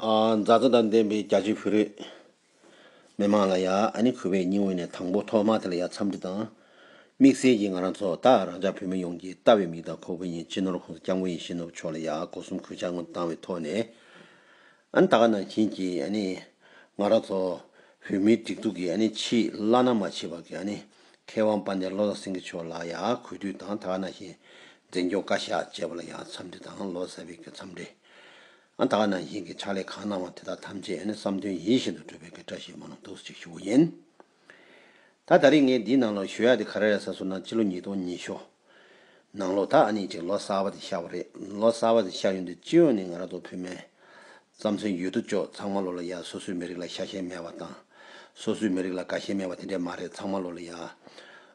མཛའ་བརྩེ་དང་ལྡན་པའི་རྒྱ་ཆེའི་བོད་རིགས་མི་མང་ལ་ཡང་གུས་པའི་སྙིང་དབུས་ནས་དང་པོ་ཐོག་མ་དེ་ལ་ཡང་འཚམས་འདྲི་དང། དམིགས་བསལ་གྱིས་ང་རང་ཚོ་དག་རང་ཅག་བོད་མི་ཡོངས་ཀྱིས་ལྟ་བའི་མིག་དང་ཁོག་བོད་མྱི་སྤྱི་ནོར་ཁོང་ས་སྐྱབས་མགོན་ཡེ་ཤེས་ནོར་བུ་མཆོག་ལ་ཡང་སྒོ་གསུམ་གུས་ཕྱག་སྔོན་དུ་བཏང་བའི་ཐོག་ནས། ད་ག་ནང་བཞིན་གྱི་ང་རང་ཚོ་བོད་མིའི་སྒྲིག་འཛུགས་ཀྱི་ཕྱིའི་བླ་ན་མ་མཆིས་པ་གྱི། མཁས་དབང་དཔལ་ལྡན་བློ་བཟང་སེང་གེ་མཆོག་ལགས་ཡང་གུས་འདུད་དང་ད་ནང་བཞིན་འཛིན་སྐྱོང་བཀའ་ཤག་བཅས་པ་ལ་ཡང་འཚམས་འདྲི་དང་ལོ་གསར་བའི་འཚམས་འདྲི། ཨ་ད་ནང་བཞིན་གྱི་ཕྱག་ལས་གང་གནང་བ་དེ་དག་ཐམས་ཅད་ནི་བསམ་དོན་ཡིད་བཞིན་དུ་འགྲུབ་པའི་གི་བཀྲ་ཤིས་མ་ལོ་འདུག་ཅིག་ཞུ་བ་ཡིན། ད་ད་རིང་ངས་འདིའི་ནང་ལོ་ཞོ་ཡག་དེ་ག་རེ་རེད་ས་སོ་ན་སྤྱི་ལོ་ཉིས་སྟོང་ཉི་ཤོ། ནང་ལོག་དག་ཨ་ནི་ཅིག་ལོ་གསར་བ་དེ་ཤར་བ་རེད་ལོ་གསར་བ་དེ་ཤར་ཡོང་དུས་སྤྱི་ཡོངས་ནས་ང་རང་ཚོ་བོད་མའི། རྩམ་ཟན་ཡོད་དོ་ཅོག་ཚང་མ་ལོ་ལ་ཡ་སོ་སོའི་མི་རིགས་ལ་ཤ་ཞེན་མེད་བ་དང། སོ་སོའི་མི་རིགས་ལ་དགའ་ཞེན་མེད་བ་དེ་འདྲས་མ་རེད་ཚང་མ་ལོ་ལ་ཡ།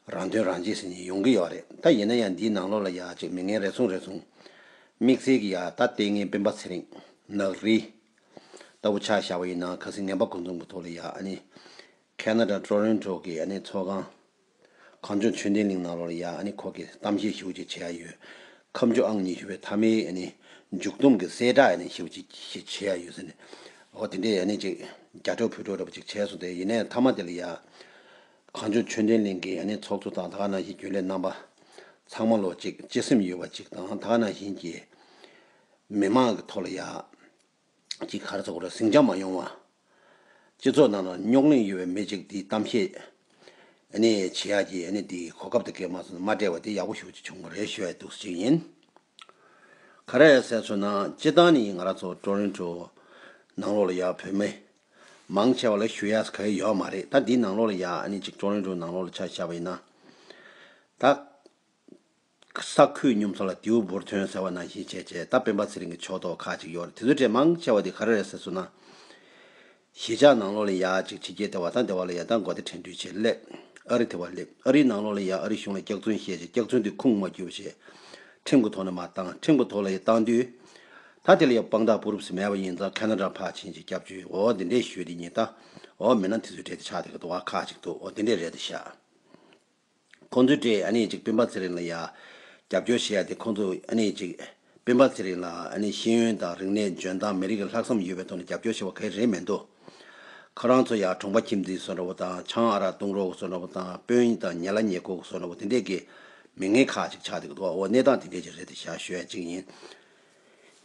རང་དོན་རང་གཅེས་ཟེར་ནས་ཡོང་གི་ཡོད་རེད་ད་ཡིན་ན་ཡང་འདིའི་ནང་ལོག་ལ་ཡ་ཅིག་མི་ངན་རེ་ཟུང་རེ་ཟུང། དམིགས་བསལ་གྱི་ཡ་ད་ལྟའི་ངའི་སྤེན་པ་ཚེ་རིང། ནག་རི། ལྟ་བུ་ཆགས་བཞག་བ་ཡིན་ན་ག་སྲིད་ངན་པ་ཀུན་ཚོང་གི་ཐོག་ལ་ཡ་ཨ་ནི། Canada Toronto གི་ཨ་ནི་ཚོགས་ཁང། གངས་ལྗོངས་ཆོས་ལྡན་གླིང་ནག་ལོར་ཡང་ནི་ཁོག་གི་གཏམ་བཤད་ཞིབ་ཅིག་བྱས་ཡོད། ཁམས་ཆོས་ཨང་ཉི་ཤུ་པའི་ཐ་མའི་མཇུག་བསྡོམས་ཀྱི་གསལ་བསྒྲགས་ཡང་ཞིབ་ཅིག་བྱས་ཡོད་ཟེར་ནས། ཨོ་དེ་འདྲའི་ཡང་ནི་ཅིག་རྒྱ་ཕྲོག་ཕུད་ཕྲོག་རེ་བ་ཅིག་བྱས་སོང་སྟེ་ཡིན་ནའི་མཐའ་མ་དེ་ལ་ཡང། གངས་ལྗོངས་ཆོས་ལྡན་གླིང་གི་ཡང་ནི་ཚོགས་གཙོ་དང་དགའ་ན་བཞིན་རྒྱུན་ལས་རྣམ་པ། ཚང་མ་ལོ་གཅིག་སྤྱི་སེམས་ཡོད་པ་ཅིག་དང་དགའ་ན་བཞིན་གྱིས། མི་མང་གི་ཐོག་ལ་ཡང། ཅིག་གར་ཚོགས་རེ་ཟིང་ཅང་མ་ཡོང་བ། སྤྱི་ཚོགས་ནང་ན་རྙོག་གླེང་ཡོད་པའི་མི་ཅིག་དེའི་གཏམ་བཤད་བྱེད་ཡག་གི་དེ་གོ་སྐབས་དེ་གས་མ་སོང་ན་མ་བྲལ་བ་དེ་ཡག་པོ་ཞུ་ཅིག་བྱུང་བ་རེད་ཤོད་འདུག་ཅིག་ཡིན། ག་རེ་ཟེར་ཚོད་ན་སྤྱི་བཏང་ནི་ང་ར་ཚོ་ཀྲོ་རིན་ཀྲོ་ནང་ལོག་ལ་ཡག་བོད་མི་མང་ཆེ་བ་ལ་ཞུ་ཡག་ག་ཡོད་ཡོད་མ་རེད་ད་འདི་ནང་ལོག་ལ་ཡག་ཅིག་ཀྲོ་རིན་ཀྲོ་ནང་ལོག་ལ་ཆ་བཞག་པ་ཡིན་ན་ད། ས་ཁུལ་སྙོམས་ཚོང་ལ་དེའུ་འབུར་ཐོན་ཟེར་བ་ནང་བཞིན་བྱས་རྗེས་ད་སྤེན་པ་ཚེ་རིང་གི་ཕྱོགས་གཏོགས་ཁག་ཅིག་ཡོད་རེད་དེ་ཚོའི་གྲས་མང་ཆེ་བ་དེ་ག་རེ་རེད་ཟེར་སོང་ན། གཞིས་ཆགས་ནང་ལོགས་ལ་ཡ་གཅིག་ཕྱི་རྒྱལ་དེ་བ་དང་དེ་བ་ལ་ཡ་དང་མགོ་དེ་དྲན་འཕྲུལ་ཆས་སླེབས། ཨ་རི་དེ་བ་སླེབས་ཨ་རིའི་ནང་ལོགས་ལ་ཡ་ཨ་རི་གཞུང་ལ་སྐྱག་རྫུན་བཤད་རྗེས་སྐྱག་རྫུན་དེ་ཁུངས་མ་བསྒྱུར་བ་བྱས། ཁྲིམས་གུ་ཐོག་ནས་མ་བཏང་ཁྲིམས་གུ་ཐོག་ལ་ཡ་བཏང་དུས། ད་དེ་ལ་ཡ་དཔང་རྟགས་པུ་རུབ་སི་མེད་པ་ཡིན་ཙང་ཁ་ན་དྲ་ཕག་ཕྱིན་རྗེས་སྐྱབས་བཅོལ་འོ་འདི་འདྲས་ཞུས་དེ་ཉིད་ད་འོ་མིན་ན་དེ་ཚོའི་གྲས་དེ་ཆགས་དེ་ག་དུ་བ་ཁག་ཅིག་འདུག་འོ་འདི་འདྲས་རེད་དེ་ཤ་ཁོང་ཚོའི་གྲས་ཨ་ནེ་ཅིག་སྤེན་པ་ཚེ་རིང་ལ་ཡ། རྒྱབ་སྐྱོར་བྱེད་ཡ་དེ་ཁོང་ཚོ་ཨ་ནེ་ཅིག། སྤེན་པ་ཚེ་རིང་ལ་ཨ་ནེ་ཤེས་ཡོན་དང་རིག་གནས་འཇོན་ཐང་མི་རིགས་ལ་ལྷག་བསམ་ཡོད་པའི་ཐོག་ནས་རྒྱབ་སྐྱོར་བྱེད་པ་གལ་རེད་མེད་འདུག། ཁོ་རང་ཚོ་ཡ་གྲོང་པ་ཁྱིམ་འཛིན་བཟོ་འདྲ་བོ་དང་ཆང་ཨ་རག་བཏུང་རོགས་བཟོ་འདྲ་བོ་དང་དཔོན་དང་ཉལ་ལ་ཉལ་ཁུག་བཟོ་འདྲ་བོ་དེ་འདྲས་ཀྱི་མི་ངན་ཁག་ཅིག་ཆགས་འདུག་གདོད་འོག་གནས་སྟངས་དེ་འདྲས་ཀྱི་རེད་དེ་ཞར་ཞོད་ཅིག་ཡིན།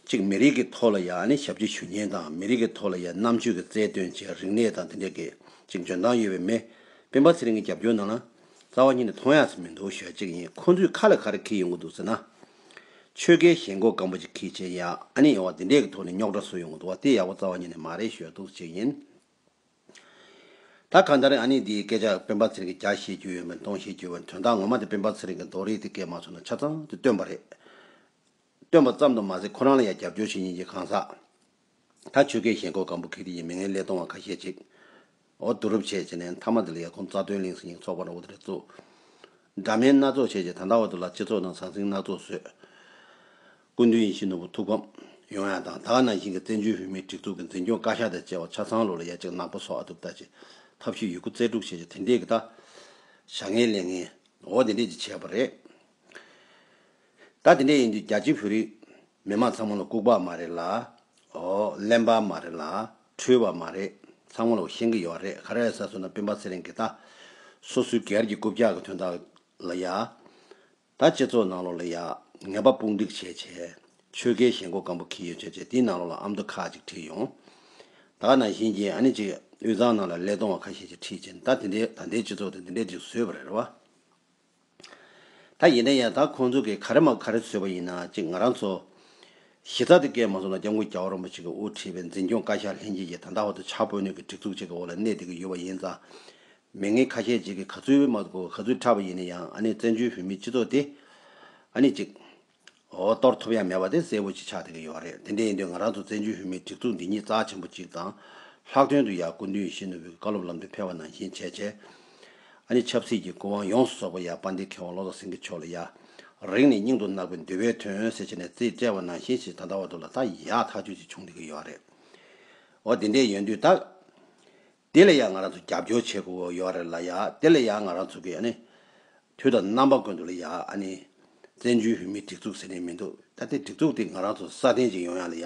གཅིག་མི་རིགས་ཀྱི་ཐོག་ལ་ཡང་ཨ་ནེ་ཞབས་ཀྱི་ཞུ་སྙན་དང་མི་རིགས་ཀྱི་ཐོག་ལ་ཡང་རྣམ་དཔྱོད་ཀྱི་རྩལ་སྟོན་བཅས་རིག་གནས་དང་དེ་འབྲེལ་གྱི་གཅིག་འཇོན་ཐང་ཡོད་པའི་མི་སྤེན་པ་ཚེ་རིང་གི་རྒྱབ་སྐྱོར་ནང་ན། རྩ་བ་ཉིད་ནས་མཐོང་ཡག་ཟིག་མི་འདུག་ཞོལ་གཅིག་ཡིན་ཁོང་ཚོས་ཁ་ལ་ག་རེ་འཁེལ་ཡོང་གི་འདུག་ཟེར་ན། ཆོལ་ཁའི་ཞེན་ཁོག་སྐམ་པོ་ཅིག་ཁེལ་རྗེས་ཡང་ཨ་ནེ་ཡོང་བ་འདི་འདྲས་ཀྱི་ཐོག་ནས་རྙོག་དྲ་བཟོ་ཡོང་གི་འདུག་བ་དེ་ཡག་པོ་རྩ་བ་ཉིད་ནས་མ་རེད་ཞོལ་གདུགས་གཅིག་ཡིན། ད་གང་ལྟར་ཨ་ནེ་འདིའི་སྐད་ཆ་སྤེན་པ་ཚེ་རིང་གི་རྒྱ་བཤད་རྒྱུ་ཡོད་མེད་མཐོང་བཤད་རྒྱུ་ཡོད་པ་ནི་དོན་དག་ངོ་མ་དེ་སྤེན་པ་ཚེ་རིང་གི་རྡོ་རིལ་དེ་སྐད་མ་ཚོར་ན་ཆ་ཚང་དེ་སྟོན་པ་རེད། སྟོན་པ་ཙམ་དུ་མ་ཟད་ཁོ་རང་ལ་ཡང་རྒྱབ་སྐྱོར་བྱེད་ཉིན་གྱི་གང་ཟག་ད་ཆོལ་ཁའི་ཞེན་ཁོག་གང་བུ་ཁེག་དེ་ཡིན་མི་ངན་ཀླད་སྟོང་བ་ཁ་ཤས་ཅིག་འོ་བསྡུ་རུབ་བྱས་བྱས་ནས་མཐའ་མ་དེ་ལ་ཡ་ཁུང་རྩ་དོན་གླིང་སེང་ཉིང་ཚོགས་པ་རང་བོ་དེ་རེད་བཙུགས། འདྲ་དམན་སྣ་ཚོགས་བྱས་བྱས་ད་ལྟ་བར་དུ་ལ་སྤྱི་ཚོགས་ནང་ཟང་ཟིང་སྣ་ཚོགས་བཟོས། སྐུ་མདུན་ཡིད་བཞིན་ནོར་བུ་ཐུགས་ཕམ་ཡོང་ཡ་དང་ད་ག་ནང་བཞིན་གྱི་བཙན་བྱོལ་བོད་མིའི་སྒྲིག་འཛུགས་ཀྱི་འཛིན་སྐྱོང་བཀའ་ཤག་དང་བཅས་པ་ཆ་ཚང་ལོག་ལ་ཡ་ཅིག་ནག་པོ་སོགས་ཨ་དུབ་ལྟ་བྱས་ཐབས་ཤེས་ཡོད་རྒུ་རྩལ་སྤྲུགས་བྱས་བྱས་དེ་འདྲས་ཀྱི་ད་བྱ་ངན་ལས་ངན་འོ་དེ་འདྲས་ཅིག་བྱས་པ་རེད། ད་དེ་འདྲ་ཡིན་དུས་རྒྱ་ཆེའི་བོད་རིགས་མི་དམངས་ཚང་མ་ལ་ལྐུག་པ་མ་རེད་ལ། ཨོ། གླེན་པ་མ་རེད་ལ། འཁྲུལ་བ་མ་རེད། ཚང་མ་ལ་བོ་ཤེས་གི་ཡོད་རེད་ཁ་ར་ཡ་ས་སུ་ན་སྤུན་པ་ཚེ་རིང་གི་ད། སོ་སོའི་གེར་གྱི་རྐུབ་བཀྱག་གི་དོན་དག་ལ་ཡ། ད་སྤྱི་ཚོགས་ནང་ལོག་ལ་ཡ། ངན་པ་དཔུང་སྒྲིག་བྱས་བྱས། ཆོལ་ཁའི་ཞེན་ཁོག་སྐམ་པོ་ཁིལ་ཡོད་བྱས་བྱས་དེའི་ནང་ལོག་ལ་ཨ་མདོ་ཁག་ཅིག་ཁྲིད་ཡོང། ད་ནང་བཞིན་གྱི་ཨ་ནི་ཅིག་དབུས་གཙང་ནང་ལ་ཀླད་སྟོང་བ་ཁ་ཤས་ཅིག་ཁྲིད་བྱས་ནས་ད་དེ་འདྲའི་ད་ལྟའི་སྤྱི་ཚོགས་དེ་འདི་འདྲས་ཅིག་བཟོས་པ་རེད་རེད་བ། ད་ཡིན་ན་ཡང་དག་ཁོང་ཚོ་གིས་ག་རེ་སྨྲ་ག་རེ་བཟོས་པ་ཡིན་ན་ཅིག་ང་རང་ཚོ། གཞི་རྩ་དེ་སྐད་མ་གསུང་ན་སྐྱབས་མགོན་རྒྱ་བོ་རིན་པོ་ཆེ་གིས་དབུ་ཁྲིད་པའི་འཛིན་སྐྱོང་བཀའ་ཤག་ལྷན་རྒྱས་ཀྱིས་ད་ལྟ་བར་དུ་བྱ་སྤོས་སྣོད་ཀྱི་སྒྲིག་འཛུགས་གཅིག་གི་འོག་ལ་གནས་བསྡད་ཀྱི་ཡོད་པ་ཡིན་ཙང། མི་ངན་ཁ་ཤས་ཅིག་གིས་ག་ཚོད་མ་གོ་ག་ཚོད་ཁྲབ་པ་ཡིན་ན་ཡང་ཨ་ནི་བཙན་བྱོལ་བོད་མིའི་སྤྱི་ཚོགས་དེ། ཨ་ནི་ཅིག། འོ། གཏོར་ཐོབ་ཡ་མེད་པ་དེ་གསལ་བོ་ཅིག་ཆགས་བསྡད་ཀྱི་ཡོད་རེད་དེ་འདྲ་ཡིན་དུས་ང་རང་ཚོ་བཙན་བྱོལ་བོད་མིའི་སྒྲིག་འཛུགས་འདི་ཉིད་རྩ་ཆེན་པོ་གཅིག་དང། ལྷག་དོན་དུ་ཡང་སྐུ་མདུན་ཡིད་བཞིན་ནོར་བུའི་བཀའ་སློབ་ལམ་སྟོན་ཕེབས་པ་ནང་བཞིན་བྱས་བྱས། ཨ་ནི་ཆབ་སྲིད་ཀྱི་སྐུ་དབང་ཡོངས་སུ་རྫོགས་པ་ཡ་དཔལ་ལྡན་མཁས་དབང་བློ་བཟང་སེང་གེ་མཆོག་ལ་ཡ། རིང་ནས་སྙིང་དུ་བརྣག་པའི་འདུལ་བའི་དོན་ཟེར་བྱས་ནས་རྩིས་སྤྲད་པ་ནང་བཞིན་ཞིག་ད་ལྟ་བར་དུ་ལ་ད་ཡ་ཐག་ཆོད་ཅིག་བྱུང་བསྡད་ཀྱི་ཡོད་རེད། འོ་དེ་འདྲས་ཡོད་དུས་ད། དེ་ལ་ཡང་ང་རང་ཚོ་རྒྱབ་སྐྱོར་བྱེད་དགོས་ཡོད་རེད་ལ་ཡ་དེ་ལ་ཡང་ང་རང་ཚོ་གི་ཨ་ནི། དུས་དང་རྣམ་པ་ཀུན་ཏུ་ལ་ཡ་ཨ་ནི། བཙན་བྱོལ་བོད་མིའི་སྒྲིག་འཛུགས་ཟེར་ནི་མི་འདུག་ད་དེ་སྒྲིག་འཛུགས་དེ་ང་རང་ཚོ་སྲ་བརྟན་ཅིག་ཡོང་ཡ་ལ་ཡ།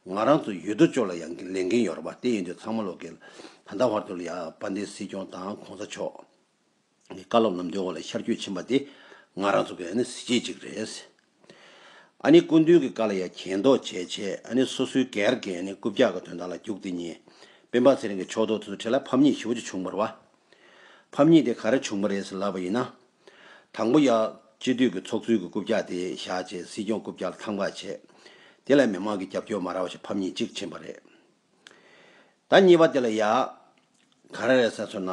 ང་རང་ཚོ་ཡོད་དོ་ཅོག་ལ་ཡང་ལས་འགན་ཡོད་རེད་པ་དེ་ཡིན་དུས་ཚང་མ་ལོག་གི། ད་ལྟ་བར་དུ་ལ་ཡ་དཔལ་ལྡན་སྲིད་སྐྱོང་དང་གོང་ས་མཆོག། བཀའ་སློབ་ལམ་སྟོན་འོག་ལ་ཤར་སྐྱོད་ཕྱིན་པ་དེ་ང་རང་ཚོ་གི་གཟི་བརྗིད་ཅིག་རེད། སྐུ་མདུན་གྱི་བཀའ་ལ་ཡང་གྱེན་ལྡོག་བྱས་རྗེས་སོ་སོའི་གར་གྱི་རྐུབ་བཀྱག་གི་དོན་དག་ལ་རྒྱུགས་དེ་ཉིན། དཔོན་འབངས་ཚེ་རིང་གི་ཕྱོགས་གཏོགས་དེ་ཚོ་ཁྲི་ལ་ཕམ་ཉེས་བཞི་བོ་ཅིག་བྱུང་བར་བ། ཕམ་ཉེས་དེ་ག་རེ་བྱུང་བ་རེད་ཟེར་ལབ་པ་ཡིན་ན། དང་པོ་ཡང། སྤྱི་འཐུས་ཀྱི་ཚོགས་གཙོའི་གྱི་རྐུབ་བཀྱག་དེ་བཞག་རྗེས་སྲིད་སྐྱོང་རྐུབ་བཀྱག་ལ་ཐང་བཀག་བྱས། དེ་ལ་མི་མང་གི་རྒྱབ་སྐྱོར་མ་རག་བ་ཞིག་ཕམ་ཉེས་གཅིག་ཕྱིན་པ་རེད། ད་གཉིས་པ་དེ་ལ་ཡག། ག་རེ་རེད་ས་སོ་ན།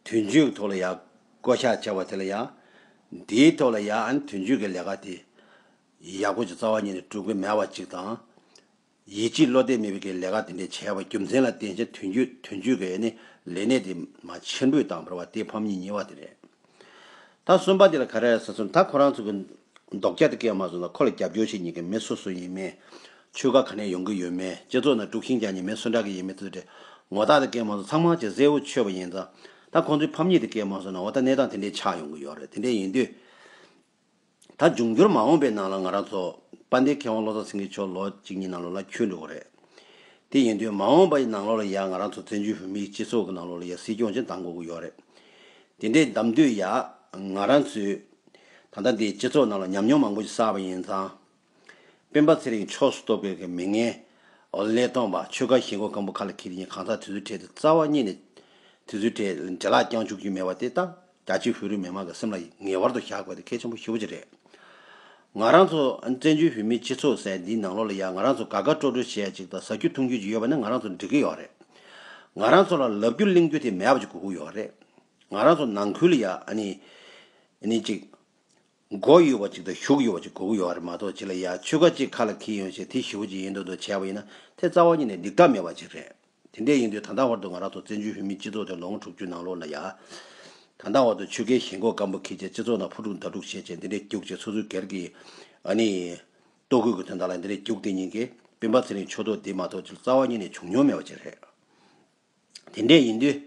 དུས་མཇུག་གི་ཐོག་ལ་ཡག་བསྐོ་བཞག་བྱས་པ་དེ་ལ་ཡག། འདིའི་ཐོག་ལ་ཡག་ཨན་དུས་མཇུག་གི་ལས་ཀ་དེ། ཡག་པོ་ཅིག་རྩ་བ་ཉིད་ནས་སྒྲུབ་གི་མེད་པ་ཅིག་དང། ཡིད་ཆེས་བློ་གཏད་མེད་པའི་ཀྱི་ལས་ཀ་དེ་འདྲས་བྱས་པ་རྒྱུ་མཚན་ལ་བརྟེན་ཅིང་དུས་མཇུག་དུས་མཇུག་གི་ཨ་ནི་ལས་གནས་དེ་མ་ཕྱིར་འབུད་བཏང་བར་བ་དེ་ཕམ་གཉིས་གཉིས་པ་དེ་རེད། ད་གསུམ་པ་དེ་ལ་ག་རེ་རེད་ཟེར་སོང་ད་ཁོ་རང་ཚོ་གི་མདོག་སྐྱ་དེ་སྐད་མ་བཟོ་ན་ཁོ་ལ་རྒྱབ་སྐྱོར་བྱེད་ཉན་གི་མི་སུ་སུ་ཡིན་མེད། ཆོལ་ཁ་ག་ནས་ཡོང་གི་ཡོད་མེད་སྤྱི་ཚོགས་ནང་དཀྲུག་ཤིང་རྒྱག་ཉན་མེད་སུ་འདྲ་གི་ཡིན་མེད་ཚུལ་དྲི་ངོ་རྟགས་དེ་སྐད་མ་བཟོ་ཚང་མ་གཅིག་གཟེ་འུ་ཆོད་པ་ཡིན་ཙང་ད་ཁོང་ཚོའི་ཕམ་ཉེས་དེ་སྐད་མ་བཟོ་ན་འོ་ད་གནས་སྟངས་དེ་འདྲའི་ཆགས་ཡོང་གི་ཡོད་རེད་དེ་འདྲའི་ཡིན་དུས། ད་འབྱུང་འགྱུར་མ་འོངས་པའི་ནང་ལ་ང་རང་ཚོ་དཔལ་ལྡན་མཁས་དབང་བློ་བཟང་སེང་གེ་མཆོག་ལོ་གཅིག་གཉིས་ནང་ལོགས་ལ་འཁྱུད་འགྲོ་གི་རེད། དེ་ཡིན་དུས་མ་འོངས་པའི་ནང་ལོགས་ལ་ཡང་ང་རང་ཚོ་བཙན་བྱོལ་བོད་མིའི་སྤྱི་ཚོགས་ཀྱི་ནང་ལོགས་ལ་ཡང་སྲིད་སྐྱོང་ཅན་གདམ་དགོས་ཀྱི་ཡོད་རེད། དེ་འདྲས་གདམ་དུས་ཡང་ང་རང་ཚོས་ད་ལྟ་འདིའི་སྤྱི་ཚོགས་ནང་ལ་ཉམས་མྱོང་མང་པོ་ཞིག་བསགས་པ་ཡིན་ཙང། སྤེན་པ་ཚེ་རིང་ཕྱོགས་སུ་གཏོགས་དགོས་གི་མི་ངན། ཀླད་སྟོང་པ་ཆོལ་ཁ་ཞེན་ཁོག་སྐམ་པོ་ཁ་ལ་འཁྱིལ་རྒྱུ་ཡིན་གང་ཟག་དེ་ཚོའི་གྲས་དུ་རྩ་བ་རྙེད་ནས་དེ་ཚོའི་གྲས་འདྲེ་ལག་རྐྱང་བཅུག་རྒྱུ་མེད་པ་དེ་རྟགས་རྒྱ་ཆེ་བོད་རིགས་མི་དམངས་ཀྱི་སེམས་ལ་ངེས་བར་དུ་བཞག་དགོས་དེ་གལ་ཆེན་པོ་ཤི་བོ་ཅི་རེད། ང་རང་ཚོ་བཙན་བྱོལ་བོད་མིའི་སྤྱི་ཚོགས་ཟེར་འདིའི་ནང་ལོགས་ལ་ཡ་ང་རང་ཚོ་དགའ་དགའ་སྤྲོ་སྤྲོ་བྱེད་ཡ་ཅིག་དང་ཟ་རྒྱུ་འཐུང་རྒྱུ་ཅིག་ཡོད་པ་ནི་ང་རང་ཚོ་འགྲིག་གི་ཡོད་རེད། ང་རང་ཚོ་ལ་ལབ་རྒྱུ་གླེང་རྒྱུ་དེ་མེད་པ་ཅིག་གོ་གི་ཡོད་རེད། ང་རང་ཚོ་ནང་ཁུལ་ལ་ཡ་ནི་ཅིག། མགོ་ཡོད་པ་ཅིག་དང་གཞུག་ཡོད་པ་ཅིག་གོ་གི་ཡོད་རེད་མ་གཏོགས་ཅི་ལ་ཡ་ཆོལ་ཁ་གཅིག་ཁ་ལ་འཁེལ་ཡོང་ཞེས་དེ་ཞི་བོ་ཅིག་ཡིན་འདུག་འདུག་བྱས་པ་ཡིན་ན་དེ་རྩ་བ་ཉིད་ནས་སྡིག་སྒྲ་མེད་པ་ཅིག་རེད། དེ་འདྲས་ཡིན་དུས་ད་ལྟ་བར་དུ་ང་རང་ཚོ་བཙན་བྱོལ་བོད་མིའི་སྤྱི་ཚོགས་དེ་ལོ་ངོ་དྲུག་ཅུའི་ནང་ལོགས་ན་ཡ། ད་ལྟ་བར་དུ་ཆོལ་ཁའི་ཞེན་ཁོག་སྐམ་པོ་འཁེལ་ཆེད་སྤྱི་ཚོགས་ནང་ཕུ་དཀྲུག་མདའ་དཀྲུག་བྱེད་ཆེད་འདི་འདྲས་རྒྱུག་ཅེས་སོ་སོའི་སྒེར་གྱི། ཨ་ནི། ལྟོ་གོས་ཀྱི་དོན་དག་ལ་འདི་འདྲས་རྒྱུག་དེ་ཉིན་གྱི་སྤེན་པ་ཚེ་རིང་མཆོག་ཐོག་འདི་མ་གཏོགས་ཅི་ལ་རྩ་བ་ཉིད་ནས་བྱུང་མྱོང་མེད་པ་ཅིག་རེད། དེ་འདྲས་ཡིན་དུས།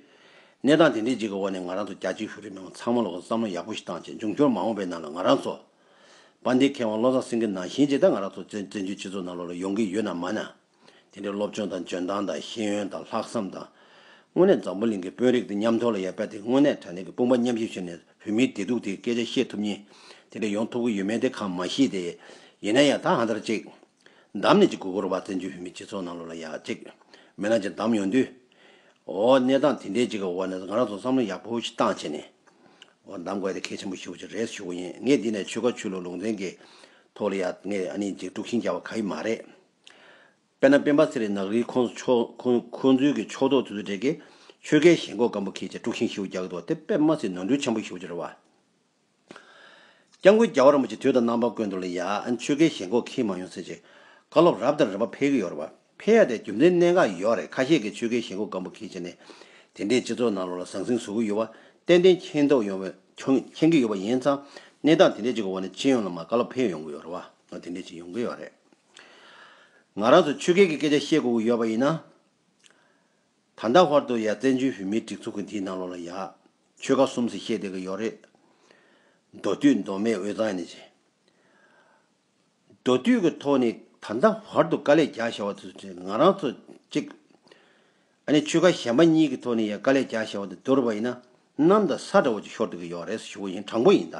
གནས་སྟངས་དེ་འདྲས་གཅིག་གི་འོག་ནས་ང་རང་ཚོ་རྒྱ་ཆེའི་བོད་རིགས་མི་མང་ཚང་མ་ལ་བསམ་བློ་ཡག་པོ་ཞིག་བཏང་ཆེད་འབྱུང་འགྱུར་མ་འོངས་པའི་ནང་ལ་ང་རང་ཚོ། པ་འདི་མཁས་དབང་བློ་བཟང་སེང་གེ་ནང་བཞིན་ཇི་ལྟར་ང་རང་ཚོ་བཙན་བྱོལ་སྤྱི་ཚོགས་ནང་ལོགས་ལ་ཡོང་གི་ཡོད་ན་མ་ན། དེ་འདྲའི་སློབ་སྦྱོང་དང་འཇོན་ཐང་དང་ཤེས་ཡོན་དང་ལྷག་བསམ་དང། དངོས་གནས་འཛམ་བུ་གླིང་གི་དཔོན་རིགས་དེ་མཉམ་ཐོར་ལ་ཡར་བསྐྱལ་ཏེ་དངོས་གནས་དྲ་གནས་ཀྱི་དཔུང་པ་མཉམ་བཞེས་བྱས་ནས་བོད་མིའི་བདེ་སྡུག་དེའི་སྐད་ཆ་བཤད་ཐུབ་ཉིན། དེ་འདྲས་ཡོང་ཐུབ་ཀྱི་ཡོད་མེད་དེ་གང་མ་ཤེས་ཏེ། ཡིན་ན་ཡང་ད་ཧང་ཐར་ཅིག། འདམ་ནི་གཅིག་གུ་གུར་བ་བཙན་བྱོལ་བོད་མིའི་སྤྱི་ཚོགས་ནང་ལོ་ལ་ཡ་གཅིག། མི་ལ་ཅིག་འདམ་ཡོང་དུས། འོ། གནས་སྟངས་དེ་འདྲའི་གཅིག་གི་འོག་ནས་ང་རང་ཚོ་བསམ་བློ་ཡག་པོ་ཞིག་བཏང་བྱས་ནས། འོ་འདམ་དགོས་ཏེ་གལ་ཆེན་པོ་ཞིག་བུ་ཅིག་རེད་ཞུ་གི་ཡིན་ངས་འདི་ནས་ཆོལ་ཁ་ཆོས་ལུགས་ལུང་ཚན་གྱི་ཐོག་ལ་ཡ་ངས་ཨ་ནི་འཇིགས་དཀྲུགས་ཤིང་རྒྱག་པ་ག་ཡི་མ་རེད། དཔེར་ན་སྤེན་པ་ཚེ་རིང་ནག་རིལ་ཁོང་ཚོའི་གི་ཕྱོགས་གཏོགས་དུས་ཚོད་འདྲེས་ཀྱི་ཆོལ་ཁའི་ཞེན་ཁོག་སྐམ་པོ་ཁྱེད་ཀྱིས་དཀྲུགས་ཤིང་ཤིག་བུ་རྒྱག་གི་འདུག་དེ་དཔེར་མ་ཚིག་ནོར་འཁྲུལ་ཆེན་པོ་ཞིག་བུ་ཅི་རེད་བ། སྐྱབས་མགོན་རྒྱ་བ་རིན་པོ་ཆེ་དུས་དང་རྣམ་པར་བཀོད་འདུག་ལ་ཡ། ཆོས་སྐལ་ཞེན་ཁོག་ཁྱིལ་མ་ཡོང་ཟེར་ཅིག། བཀའ་སློབ་རབ་དང་རིམ་པ་འཕེལ་གྱི་ཡོད་རེད་བ། འཕེལ་ཡ་དེ་རྒྱུ་མཚན་གནད་འགག་ཡོད་རེད་ཁ་ཤས་ཀྱི་ཆོས་སྐལ་ཞེན་ཁོག་སྐམ་པོ་ཁྱིལ་བྱས་ནས། དེ་འདྲའི་སྤྱི་ཚོགས་ནང་ལོག་ལ་ཟང་ཟིང་བཟོ་གི་ཡོད་བ། ཏན་ཏན་མཁྱེན་རྟོགས་ཡོང་བའི། མཁྱེན་གྱི་ཡོད་བ་ཡིན་ཙང། གནས་སྟངས་དེ་འདྲའི་ཅིག་གི་འོག་ནས་སྤྱི་ཡོངས་ལ་མ་བཀའ་སློབ་འཕེལ་ཡོང་གི་ཡོད་རེད་བ། དེ་འདྲའི་ཅིག་ཡོང་གི་ཡོད་རེད། ང་རང་ཚོས་ཆོས་སྐལ་གྱི་སྐད་ཆ་བཤད་དགོས་ཀྱི་ཡོད་བ་ཡིན་ན། ད་ལྟ་བར་དུ་ཡ་བཙན་བྱོལ་བོད་མིའི་སྒྲིག་འཛུགས་ཀྱི་འདིའི་ནང་ལོགས་ལ་ཡ། ཆོལ་ཁ་གསུམ་ཟེར་བཤད་བསྡད་ཀྱི་ཡོག་རེད། མདོ་སྟོད་མདོ་སྨད་འོས་ཙང་ཡ་ནས་བྱས། མདོ་སྟོད་ཀྱི་ཐོག་ནས་ད་ལྟ་བར་དུ་དཀའ་ལས་རྒྱག་བཞག་བ་དེ་ཚོ་ང་རང་ཚོ་གཅིག། ཨ་ནི་ཆོལ་ཁ་གཞན་པ་གཉིས་ཀྱི་ཐོག་ནས་ཡ་དཀའ་ལས་རྒྱག་བཞག་བ་དེ་བསྡུར་བ་ཡིན་ན་གནམ་དང་ས་འདྲ་བོ་ཅིག་ཤོར་བསྡད་ཀྱི་ཡོག་རེད་ཟེར་ཞུ་བ་ཡིན་དྲང་པོ་ཡིན་ད།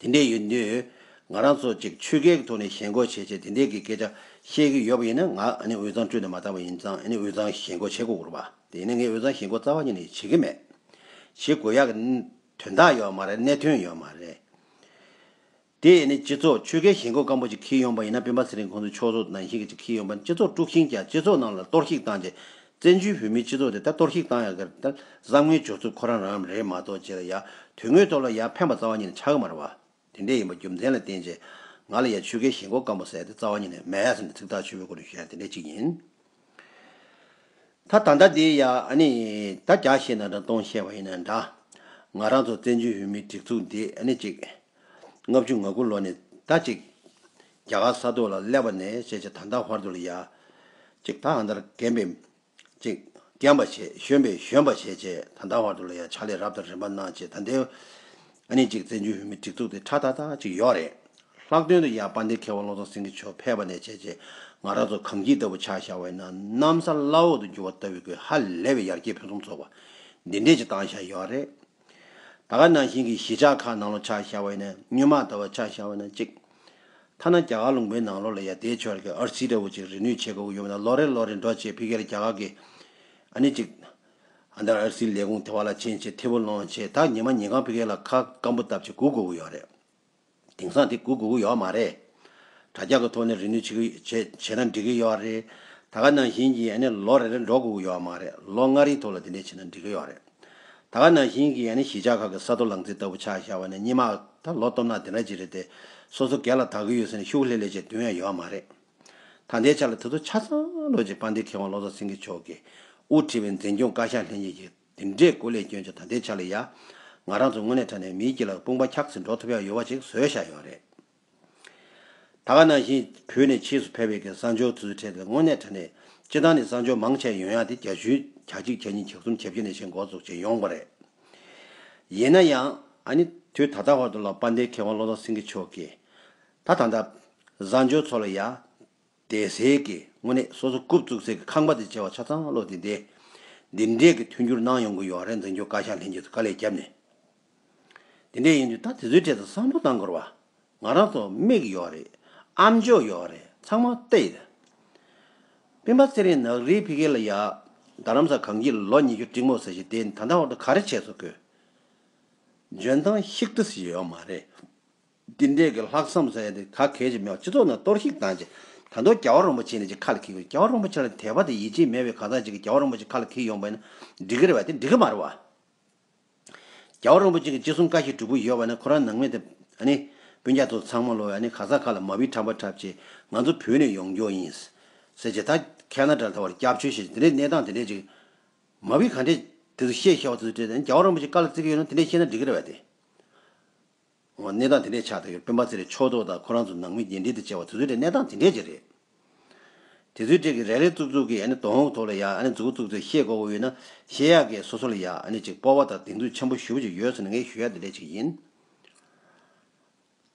དེ་འདྲས་ཡོད་དུས། ང་རང་ཚོ་གཅིག་ཆོས་ཁའི་ཐོག་ནས་ཞེན་ཁོག་བྱེད་བྱེད་དེ་འདྲས་ཀྱི་སྐད་ཆ་བཤད་ཀྱི་ཡོད་པ་ཡིན་ན་ང་འུ་ཚང་བཀྲོལ་ཏུ་མ་བཏང་བ་ཡིན་ཙང་འུ་ཚང་ཞེན་ཁོག་བྱེད་དགོས་སྐོར་བ། དེ་ནི་ངས་འུ་ཚང་ཞེན་ཁོག་རྩ་བ་ཉིད་ནས་བྱེད་ཀྱི་མེད། བྱེད་དགོས་ཡག་གི། དོན་དག་ཡོད་མ་རེད་གནད་དོན་ཡོད་མ་རེད། དེ་ནི་སྤྱི་ཚོགས་ཆོས་ཁའི་ཞེན་ཁོག་སྐམ་པོ་ཅིག་འཁྱིལ་ཡོང་པ་ཡིན་ན་སྤེན་པ་ཚེ་རིང་ཁོང་ཚོའི་ཕྱོགས་སོ་ནང་བཞིན་གྱི་ཅིག་འཁྱིལ་ཡོང་པ་ནི་སྤྱི་ཚོགས་དཀྲུགས་ཤིང་ཀྱང་སྤྱི་ཚོགས་ནང་ལ་གཏོར་བཤིག་བཏང་རྗེས་བཙན་བྱོལ་བོད་མིའི་སྤྱི་ཚོགས་དེ་ད་གཏོར་བཤིག་བཏང་ཡག་གི་རེད། བསམ་ངན་སྦྱོར་ཚུལ་ཁོ་རང་རང་རེད་མ་གཏོགས་ཅི་ལ་ཡག་དོན་དངོས་ཐོག་ལ་ཡག་ཕན་པ་རྩ་བ་ཉིད་ནས་ཆགས་ཀྱི་མ་རེད་བ། དེ་འདྲས་ཡིན་པ་རྒྱུ་མཚན་ལ་བརྟེན་རྗེས་ང་ལ་ཡ་ཆོལ་ཁའི་ཞེན་ཁོག་སྐམ་པོ་ཟེར་དེ་རྩ་བ་ཉིད་ནས་མེད་ཡ་ཟེར་ནས་ཚིག་ཐག་ཆོད་པོའི་སྒོ་ནས་བཤད་ན་དེ་འདྲས་གཅིག་ཡིན། ད་ད་ལྟ་དེ་ཡ་ཨ་ནི་ད་རྒྱག་བཤད་ན་འདྲ་སྟོང་བཤད་པ་ཡིན་ན་འདྲ། ང་རང་ཚོ་བཙན་བྱོལ་བོད་མིའི་སྒྲིག་འཛུགས་འདི་ཨ་ནི་གཅིག། ལྔ་བཅུ་ང་དགུ་ལོ་ནས་ད་ཅིག། རྒྱ་གར་ས་ཐོག་ལ་སླེབས་པ་ནས་བཤད་བྱ་ད་ལྟ་བར་དུ་ལ་ཡ། ཅིག་ད་ཨ་མདར་རྒན་པས། ཅིག། རྒན་པ་བྱས་གཞོན་པས་གཞོན་པ་བྱས་བྱས་ད་ལྟ་བར་དུ་ལ་ཡ་ཕྱག་ལས་རབ་དང་རིམ་པར་གནང་བྱས་ད་ལྟའི། ཨ་ནི་ཅིག་བཙན་བྱོལ་བོད་མིའི་སྒྲིག་འཛུགས་དེ་ཁྲ་ད་ད་ཅིག་ཡོག་རེད། ལྷག་དོན་དུ་ཡ་དཔའ་འདེགས་མཁས་བ་བློ་བཟང་སེང་གེ་མཆོག་ཕེབས་པ་ནས་བྱས་བྱས་ང་རང་ཚོ་གངས་སྐྱིད་ལྟ་བུ་ཆགས་བཞག་བས་ན་གནམ་ས་བླ་འོག་ཏུ་འགྱུར་བ་ལྟ་བུའི་དགོས་ཧ་ལས་པའི་ཡར་རྒྱས་ཕུན་སུམ་ཚོགས་པ་འདི་འདྲས་ཅིག་བཏང་བཞག་ཡོག་རེད། ད་ག་ནང་བཞིན་གྱི་གཞིས་ཆགས་ཁག་ནང་ལོ་ཆགས་ཤར་བ་ཡིན་ན་སྨྱོན་མ་དར་བ་ཆགས་ཤར་བ་ཡིན་ན་གཅིག། ཐ་ན་རྒྱ་གར་ལུང་པའི་ནང་ལོགས་ལ་ཡང་དེའི་ཕྱོགས་ཀྱི་ཨར་སི་འདྲ་བོ་ཅིག་རིག་ནུས་ཆེ་དགའ་བོ་ཡོད་མེད་ལ་ལོ་རེར་ལོ་རེར་འགྲོ་ཆེད་ཕི་གེ་ལ་རྒྱ་གར་གྱི། ཨ་ནི་གཅིག། ཨ་མདའ་ཨར་སིའི་ལས་ཁུངས་དེ་བ་ལ་ཕྱིན་ཆེད་ཐེ་བོ་སློང་ཆེད་ད་ཉི་མ་ཉིན་གང་ཕི་གེ་ལ་ཁ་སྐམ་པོ་བཏབ་ཆེད་སྒུག་དགོས་ཀྱི་ཡོད་རེད། དེང་སང་དེ་དགོས་དགོས་ཀྱི་ཡོད་མ་རེད། དྲ་རྒྱ་གི་ཐོག་ནས་རེ་ནུས་བྱེད་ན་འགྲིག་གི་ཡོད་རེད། ད་ག་ནང་བཞིན་གྱི་ཡ་ནས་ལོ་རེ་རེར་འགྲོ་དགོས་ཀྱི་ཡོད་མ་རེད། ལོ་ལྔ་རེའི་ཐོག་ལ་དེ་འདྲས་བྱས་ན་འགྲིག་གི་ཡོད་རེད། ད་ག་ནང་བཞིན་གྱི་ཡ་ནས་གཞིས་ཆགས་ཁག་གི་ས་རྡོ་ལང་ཚིགས་ལྟ་བུ་ཆགས་བཞག་བ་ནས་གཉིས་མ་ད་ལོ་སྟོབས་ནག་དེ་འདྲ་གྱི་རེད་དེ། སོ་སོ་སྒེར་ལ་དག་གི་ཡོད་ཟེར་ནས་ཤུགས་ལྷེ་ལྷེ་བྱས་དོན་ཡང་ཡོད་མ་རེད། ད་འདའི་ཆ་ལ་དེ་ཚོ་ཆ་ཚང་ལོ་རྗེ་དཔལ་ལྡན་མཁས་དབང་བློ་བཟང་སེང་གེ་མཆོག་གིས་དབུ་ཁྲིད་པའི་འཛིན་སྐྱོང་བཀའ་ཤག་ལྷན་རྒྱས་ཀྱི་འདི་འདྲའི་སྐུ་ལས་སྐྱོན་ཆ་ད་ལྟའི་ཆ་ལ་ཡ། ང་རང་ཚོ་དངོས་གནས་དྲ་ནས་མིའི་སྐྱི་ལ་དཔུང་པ་འཁྱགས་ཟིན་འགྲོ་ཐུབ་ཡག་ཡོལ་བ་ཞིག་བཟོས་བཞག་ཡོད་རེད། ད་ག་ནང་བཞིན་བོད་ནས་ཕྱིས་སུ་ཕེབས་ཡོད་མཁན་གསང་སྤྱོད་དུ་ཚུད་ཁྲལ་ཏེ་དངོས་གནས་དྲ་ནས་སྤྱི་བཏང་ནས་གསང་སྤྱོད་མང་ཆེ་ཡོན་ཡག་དེ་གྱ་བཞུ་གྱ་གཅིག་གྱ་གཉིས་གྱ་གསུམ་གྱ་བཞི་ནས་བཞེས་འགོ་ཚུགས་བྱས་ཡོང་པ་རེད། ཡིན་ན་ཡང། ཨ་ནི། དུས་ད་ལྟ་བར་དུ་ལ་དཔའ་འདའི་མཁས་དབང་བློ་བཟང་སེང་གེ་མཆོག་གིས། ད་ད་ད། གསང་སྤྱོད་ཚོ་ལ་ཡ། བདེ་གསལ་གྱིས་དངོས་གནས་སོ་སོ་རྐུབ་བཙུགས་ཚད་ཀྱི་ཁང་པ་དེ་བྱེ་བ་ཆ་ཚང་བློ་བདེ་བདེ། འདི་འདྲས་ཀྱི་མཐུན་འགྱུར་གནང་ཡོང་གི་ཡོད་རེད་འཛིན་སྐྱོང་བཀའ་ཤག་ལྷན་རྒྱས་སུ་དཀའ་ལས་བརྒྱབ་ནས། དེ་འདྲས་ཡིན་དུས་ད་དེ་ཚོའི་གྲས་དང་བསམ་བློ་གཏང་དགོས་རེད་བ། ང་རང་ཚོ་དམིགས་ཀྱི་ཡོད་རེད་ཨམ་འཇོག་ཡོད་རེད་ཚང་མ་བལྟ་ཡི་རེད། སྤེན་པ་ཚེ་རིང་ནག་རིལ་ཕི་གེ་ལ་ཡག་རྡ་རམ་ས་གངས་སྐྱིད་ལོ་ཉི་ཤུ་སྤྲིང་མོ་ཟེར་བཞིན་དེ་ད་ལྟ་བར་དུ་ག་རེ་བྱས་ཚོད་དགོས། འཇོན་ཐང་ཤིག་ཏུ་ཡོད་མ་རེད། འདི་འདྲའི་གི་ལྷག་བསམ་ཟེར་ཡ་དེ་ག་གལ་ཆེ་མེད་བ་སྤྱི་ཚོགས་ནང་གཏོར་ཤིག་བཏང་རྗེས་ད་དུང་རྒྱ་བ་རོང་པོ་ཆེ་ནས་ཅིག་ཁ་ལ་འཁྱིལ་དགོས་རྒྱ་བ་རོང་པོ་ཆེ་ལ་དད་པ་དང་ཡིད་ཆེས་མེད་བའི་གང་ཟག་ཅིག་གིས་རྒྱ་བ་རོང་པོ་ཆེ་ཁ་ལ་འཁྱིལ་ཡོང་པ་ཡིན་ན་འགྲིག་གི་རེད་བ་དེ་འགྲིག་གི་མ་རེད་བ། རྒྱ་བ་རོང་པོ་ཆེ་གི་ཅི་གསུང་བཀའ་ཞིག་གྲུབ་ཀི་ཡོད་བ་ན་ཁོ་རང་ནང་མི་དེ་ཨ་ནི་སྤུན་རྒྱ་མཚོ་ཚང་མ་ལོ་ཡ་ནི་ག་ཟག་ཁ་ལ་མ་བི་ཁྲམ་པ་ཁྲབ་ཆེ་ང་ཚོ་བོད་ནས་ཡོང་རྒྱོ་ཡིན་ཟེར་ཆེ་ད་ཁ་ན་དྲ་ལ་ད་བར་སྐྱབས་བཅོལ་བྱེད་ཆེ་དེ་འདྲའི་གནས་སྟངས་དེ་འདྲའི་ཅིག་མ་བི་ག་འདྲའི་དེ་ཚོ་བཤད་ཤེས་བ་དེ་ཚོ་བྲེལ་ཏེ་རྒྱ་བ་རོང་པོ་ཆེ་ག་ལ་བརྩི་གི་ཡོད་ན་དེ་འདྲའི་བཤད་ན་འགྲིག་གི་རེད་བ་དེ། གནས་སྟངས་དེ་འདྲས་ཆགས་ཐུབ་ཡོད་སྤེན་པ་ཚེ་རིང་ཕྱོགས་གཏོགས་དང་ཁོ་རང་ཚོ་ནང་མི་རྒྱས་འབྲེལ་དུ་བཅར་བ་དེ་ཚོའི་གྲས་གནས་སྟངས་དེ་འདྲས་ཀྱི་རེད། དེ་ཚོའི་གྲས་ཀྱི་རེ་རེ་ཙུག་ཙུག་གིས་དོ་ཧོག་ཐོག་ལ་ཡ་ནས་ཙུག་ཙུག་ཚོས་ཤེས་དགོས་པ་ཡོད་ན་ཤེས་ཡག་གིས་སོ་སོ་ལ་ཡ་ནས་ཅིག་སྤོ་བ་དང་སྡིགས་མཛུབ་ཆེན་པོ་ཞུ་བ་ཅིག་ཡོད་ཟེར་ན་ངས་ཞུ་ཡ་དེ་འདྲས་ཅིག་ཡིན།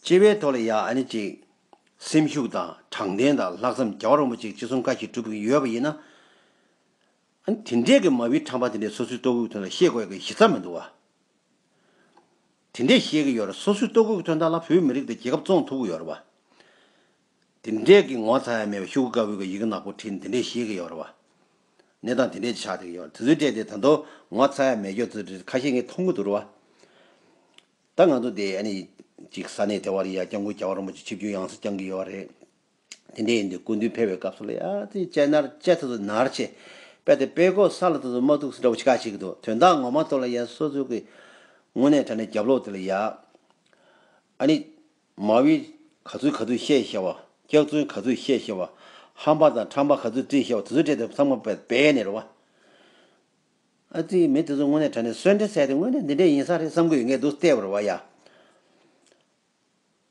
སྤྱི་བའི་ཐོག་ལ་ཡ་ནས་ཅིག་སེམས་ཤུགས་དང་དྲང་བདེན་དང་ལྷག་བསམ་རྒྱ་བ་རོང་པོ་ཅིག་ཅི་གསུང་བཀའ་ཞིག་སྒྲུབ་ཀྱི་ཡོད་པ་ཡིན་ན། དེ་འདྲས་ཀྱི་མ་བིའི་ཁྲམ་པ་དེ་འདྲས་སོ་སོའི་ལྟོ་གོས་ཐོན་ལ་ཤེས་དགོས་ཡག་གི་གཞི་རྩ་མི་འདུག་བ། དེ་འདྲས་ཤེས་ཀྱི་ཡོད་རེད་སོ་སོའི་ལྟོ་གོས་ཀྱི་དོན་དག་ལ་བོད་མི་རིགས་དང་རྒྱལ་ཁབ་བཙོང་ཐུབ་ཀྱི་ཡོད་རེད་བ། དེ་འདྲས་ཀྱི་ངོ་ཚ་ཡ་མེད་པའི་ཤུག་གུ་དཀར་བོའི་ཡི་གེ་ནག་པོ་ཁྲིད་ནས་དེ་འདྲས་ཤེས་ཀྱི་ཡོད་རེད་བ། གནས་སྟངས་དེ་འདྲས་ཀྱི་ཆགས་ཐུབ་ཀྱི་ཡོད་རེད་དེ་ཚོའི་གྲས་དེ་ད་དུང་ངོ་ཚ་ཡ་མེད་ཁྱོད་ཚོ་འདྲས་ཁ་ཤས་ངས་མཐོང་གི་འདུག་རེད་བ། ད་ང་ཚོ་འདི་ཨ་ནི་ཅིག་ས་གནས་དེ་བ་རི་ཡ་སྐྱང་ཁུལ་རྒྱལ་བ་རིན་པོ་ཆེ་ཆིབས་བསྒྱུར་ཡང་སེ་བསྐྱང་གི་ཡོད་རེད། དེ་འདྲའི་ཡིན་དུས་སྐུ་མདུན་ཕེབས་པའི་སྐབས་སུ་ལ་ཡ་ཙི་དཔྱད་ནར་དཔྱད་ཐུག་ཏུ་ནར་ཆེ། དཔེ་དེ་དཔེ་ཀོ་ས་ལ་ཐུག་ཏུ་མ་ཐུག་སི་འདྲ་བོ་ཆི་ཁ་ཞིག་འདུག་དོན་དག་ངོ་མ་ཐུག་ལ་ཡ་སོ་ཚུལ་གྱིས་ངུ་ནས་དྲ་ནས་རྒྱབ་ལོག་དེ་ལ་ཡ། ཨ་ནི། མ་བྷི། ག་ཚུལ་ག་ཚུལ་བཤད་ཤེས་བ། སྐྱག་རྫུན་ག་ཚུལ་བཤད་ཤེས་བ། ཧམ་པ་དང་ཁྲམ་པ་ག་ཚུལ་བཀྲིས་ཤེས་བ་དེ་ཚུལ་བཀྲལ་ཏེ་ཚང་མ་བད་ནས་རོ། ཨ་ཙི་མི་དེ་ཚོ་ངུ་ནས་དྲ་ནས་གསོན་འདྲེ་བསད་དེ་དངོས་གནས་འདི་འདྲས་ཡིན་ས་རེད་བསམ་གྱི་ཡོད་ངེས་འདུག་ལྟས་བར་བ་ཡ།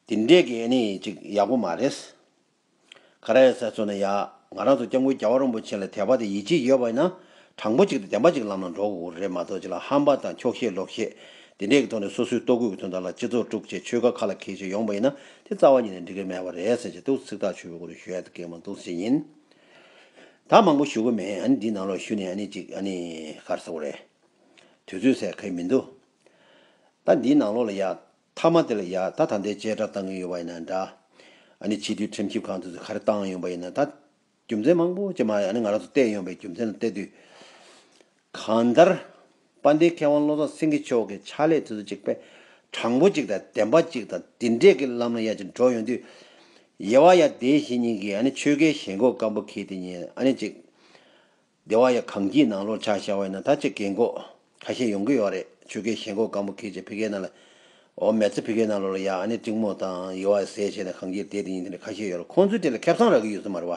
འདི་འདྲའི་སྐད་གནས་ཅིག་ཡག་པོ་མ་རེད། ག་རེ་ཟེར་ཚོ་ན་ཡ། ང་རང་ཚོ་སྐྱབས་མགོན་རྒྱ་བ་རིན་པོ་ཆེ་ལ་དད་པ་དང་ཡིད་ཆེས་ཡོད་པ་ཡིན་ན། དྲང་པོ་གཅིག་དང་བདེན་པ་གཅིག་ལམ་ལ་འགྲོ་དགོས་རེད་མ་གཏོགས་ཅི་ལ་ཧམ་པ་དང་འཁྱོག་བཤད་ལོག་བཤད། འདི་འདྲའི་གི་ཐོག་ནས་སོ་སོའི་ལྟོ་གོས་ཀྱི་དོན་དག་ལ་སྤྱི་ཚོགས་དཀྲུག་བྱེད་ཆོལ་ཁ་ཁ་ལ་འཁེལ་བྱེད་ཡོང་པ་ཡིན་ན་དེ་རྩ་བ་ཉིད་ནས་འགྲིག་གི་མེད་པ་རེད་ཟེར་བྱེད་འདུག་ཚིག་ཐག་ཆོད་པོའི་སྒོ་ནས་ཞུ་ཡག་ཏུ་སྐད་མ་འདུག་ཟེར་བཞིན་ཡིན། ད་མང་པོ་ཞུ་གི་མེད་འདི་ནང་ལོགས་ཞུ་ནས་ཅིག་གར་ཟེར་བ་རེད། དུས་ཚོད་ཟེར་གི་མི་འདུག། ད་འདི་ནང་ལོགས་ལ་ཡ། མཐའ་མ་དེ་ལ་ཡ་ད་ད་འདའི་ཅལ་དྲག་བཏང་གིན་ཡོད་པ་ཡིན་ན་འདྲ། ཨ་ནི་ཕྱི་དྲིལ་ཁྲིམས་ཞིབ་ཁང་དུ་ཚུད་ག་རེ་བཏང་ཡོང་པ་ཡིན་ན་ད། རྒྱུ་མཚན་མང་པོ་ཅི་མ་ཨ་ནི་ང་རང་ཚོ་བལྟས་ཡོང་པའི་རྒྱུ་མཚན་ལ་བལྟས་དུས། གང་ལྟར། དཔལ་ལྡན་མཁས་དབང་བློ་བཟང་སེང་གེ་མཆོག་གི་ཕྱག་ལས་དུས་ཚོད་ཅིག་དཔེ་དྲང་པོ་ཅིག་དང་བདེན་པ་ཅིག་དང་དེ་འདྲས་ཀྱི་ལམ་ལ་ཡ་ཅིག་འགྲོ་ཡོང་དུས། ཡེ་བ་ཡ་དེའི་གཞི་ཉིན་གྱི་ཨ་ནི་ཆོལ་ཁའི་ཞེན་ཁོག་སྐམ་པོ་གྱིས་དེ་ཉིན་ཨ་ནི་ཅིག། སྡེ་བ་ཡང་གངས་སྐྱིད་ནང་ལོར་ཆ་བཞག་བས་ན་ད་ཆ་གེགས་འགོག་ཁ་ཤས་ཡོང་གི་ཡོད་རེད་ཆོལ་ཁའི་ཞེན་ཁོག་སྒམ་པོ་ཁེལ་ཆེད་ཕི་ཁའི་ནང་ལ་འོ་མེད་ཚེ་ཕི་ཁའི་ནང་ལོར་ལ་ཡ་ཨ་ནེ་ཏིང་མོ་དང་ཡེ་བ་ཟས་བྱས་ནས་གངས་སྐྱིད་དེ་དེ་ཡིན་དེ་འདྲ་ཁ་ཤས་ཡོད་རེད་ཁོང་ཚོས་དེ་ལ་ཁེབ་བསང་རག་གི་ཡོད་ས་མ་རེད་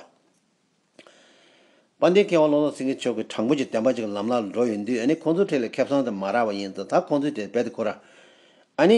བ། དཔལ་ལྡན་མཁས་དབང་བློ་བཟང་སེང་གེ་ཆོས་ཀྱི་དྲང་པོ་གྱི་བསྟན་པ་ཅིག་ལམ་ལག་ལ་འགྲོ་ཡོད་དུས་ཨ་ནེ་ཁོང་ཚོའི་ཁྲིད་ལ་ཁེབ་བསང་དེ་མ་རག་བ་ཡིན་ཙང་ད་ཁོང་ཚོས་དེ་རྦད་དེ་ཁུར་ར། ཨ་ནེ།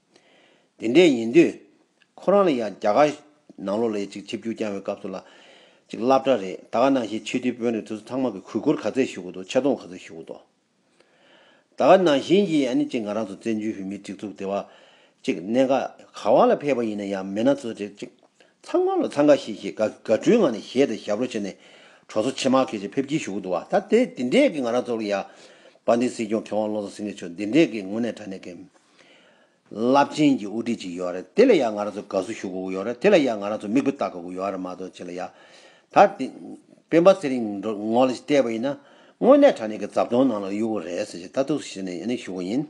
དེ་འདྲས་ཡིན་དུས། ཁོ་རང་ལ་ཡང་རྒྱ་གར་ནང་ལོགས་ལས་ཅིག་ཆིབས་བསྒྱུར་བསྐྱངས་བའི་སྐབས་སུ་ལ་ཅིག་བསླབ་གྲྭ་རེད་ད་ག་ནང་བཞིན་ཆོས་འདུལ་དཔོན་རེད་དུས་སུ་ཚང་མ་གི་གུས་བཀུར་ག་ཚད་ཞུ་གི་འདུག་ཆེ་མཐོང་ག་ཚོད་ཞུ་གི་འདུག་ད་ག་ནང་བཞིན་གྱི་ཨ་ནི་ཅིག་ང་རང་ཚོ་བཙན་བྱོལ་བོད་མིའི་སྒྲིག་འཛུགས་དེ་བ་ཅིག་གནད་འགག་ག་བ་ལ་ཕེབས་པ་ཡིན་ན་ཡང་མི་སྣ་ཚོ་རེ་ཅིག་ཚང་མ་ལོ་ཚང་ག་ཤེས་ཤེས་ག་ག་བྲུའི་ངང་ནས་ཞེད་དང་ཞབས་རོ་བྱེད་ནས་གྲོ་སོ་ཆེ་མ་གེ་ཅིག་ཕེབས་ཀྱིན་ཞུ་གི་འདུག་ད་དེ་འདྲས་ཀྱི་ང་རང་ཚོ་ལ་ཡང་བ་འདི་སྲིད་སྐྱོང་མཁས་དབང་བློ་བཟང་སེང་གེ་མཆོག་འདི་འདྲས་ཀྱི་ངོ་ནས་དྲ་གནས་ཀྱི། རླབས་ཆེན་གྱི་དབུ་ཁྲིད་ཅིག་ཡོད་རེད་དེ་ལ་ཡང་ང་རང་ཚོ་དགའ་བསུ་ཞུ་དགོས་ཀྱི་ཡོད་རེད་དེ་ལ་ཡང་ང་རང་ཚོ་མིག་དཔེ་བལྟ་དགོས་ཀྱི་ཡོད་རེད་མ་གཏོགས་ཅི་ལ་ཡ། ད། སྤེན་པ་ཚེ་རིང་ངོ་ལ་བལྟས་པ་ཡིན་ན། དངོས་གནས་དྲ་གནས་ཀྱི་རྫབ་དོང་ནང་ལ་གཡུག་གི་རེད་ཟེར་ཞེས་ལྟ་ཐུག་ཟེར་ནས་ཡང་ཞུ་གི་ཡིན།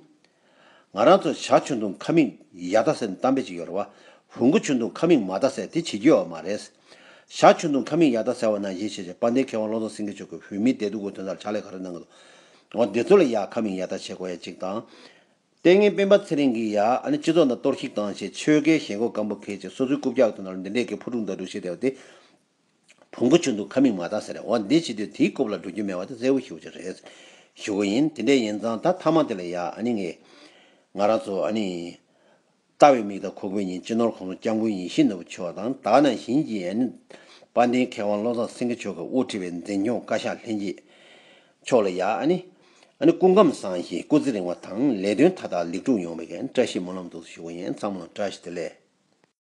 ང་རང་ཚོ་བྱ་ཆུ་འཐུང་ཁ་མིག་ཡ་བལྟ་ཟེར་གཏམ་དཔེ་ཅིག་ཡོད་རེད་བ། བུ་འགོ་ཆུ་འཐུང་ཁ་མིག་མ་བལྟ་ཟེར་དེ་བྱེད་རྒྱུ་ཡོད་མ་རེད། བྱ་ཆུ་འཐུང་ཁ་མིག་ཡ་བལྟ་ཟེར་བ་ནང་བཞིན་བྱེད་ཅེས་དཔལ་ལྡན་མཁས་དབང་བློ་བཟང་སེང་གེ་མཆོག་གིས་བོད་མིའི་བདེ་སྡུག་གི་དོན་དག་ལ་ཕྱག་ལས་ག་རེ་གནང་གི་འདུག་འོ་དེ་ཚོ་ལ་ཡ་ཁ་མིག་ཡ་བལྟ་བྱེད་དགོས་ཡ་གཅིག་དང། ལྟས་ངན་སྤེན་པ་ཚེ་རིང་གིས་ཡ་ཨ་ནི་སྤྱི་ཚོགས་ནང་གཏོར་བཤིག་བཏང་ཞེས་ཆོལ་ཁའི་ཞེན་ཁོག་སྐམ་པོ་ཁེལ་ཅིག་སོ་སོའི་རྐུབ་བཀྱག་ཐོན་ནོར་འདི་འདྲས་ཀྱི་ཕུ་དཀྲུག་མདའ་དཀྲུག་བྱེད་བསྡད་པ་དེ་བོང་གུ་ཆུ་འདུག་ཁ་མིག་མ་དག་ཟེར་འོ་འདི་བྱེད་དུས་དེའི་རྐུབ་ལ་འགྲོ་རྒྱུ་མེད་བ་དེ་གསལ་བོ་ཞུ་བྱ་རེད་ཞུ་གི་ཡིན་དེ་འདྲས་ཡིན་ཙང་ད་མཐའ་མ་དེ་ལ་ཡ་ཨ་ནི་ངས་ང་རང་ཚོ་ཨ་ནི། ལྟ་བའི་མིག་དང་ཁོ་བོའི་ཉིན་གཅིག་ནོར་གོང་ལོ་སྐྱབས་མགོན་ཡེ་ཤེས་ནོར་བུ་མཆོག་དང་དག་སྣང་ཞིང་གི་ཡན། དཔལ་ལྡན་མཁས་དབང་བློ་བཟང་སེང་གེ་མཆོག་གི་དབུ་ཁྲིད་པའི་འཛིན་སྐྱོང་བཀའ་ཤག་ལྷན་རྒྱས། མཆོག་ལ་ཡང། སྐུ་ཁམས་བཟང་ཞིང་སྐུ་ཚེ་རིང་བ་དང་ལས་དོན་མཐའ་དག་ལེགས་གྲུབ་ཡོང་བའི་བཀྲ་ཤིས་སྨོན་ལམ་གདུགས་སུ་གཞུག་ཡོན་ཚང་མ་ལ་བཀྲ་ཤིས་བདེ་ལེགས།